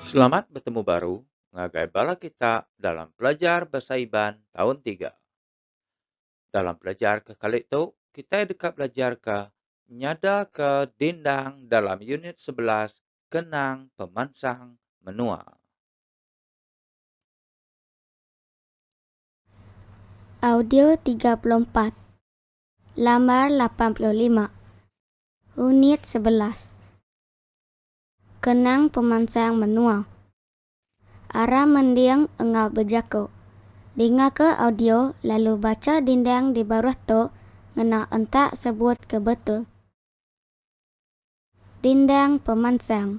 Selamat betemu baru ngagai bala kita dalam pelajar Bahasa Iban taun tiga. Dalam pelajar ke kali tu, kitai deka belajarka nyadaka dindang dalam unit sebelas Kenang Pemansang Menua. Audio tiga puluh empat, lambar lapan puluh lima, unit sebelas Kenang pemansang menua Aram mending enggau bejaku Dingaka audio lalu bacha dindang di baruh tu ngena entak sebut ke betul Dindang pemansang.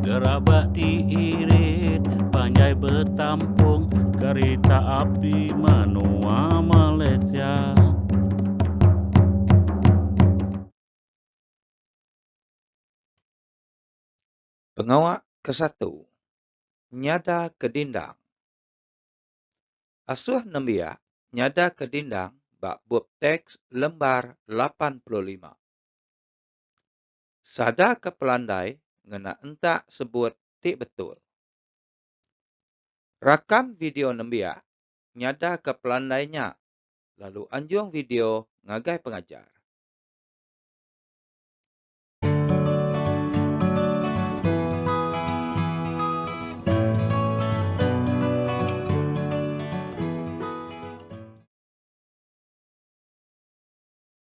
Gerabak ti irit panjai betampung kerita api menua Malaysia. Pengawa ke satu, nyada ke dindang. Asuh nembiak nyada ke dindang ba bup teks lembar lapan puluh lima. Sadarka pelandai ngena entak sebut ti betul. Rakam video nembiak nyadarka pelandai nya lalu anjung video ngagai pengajar.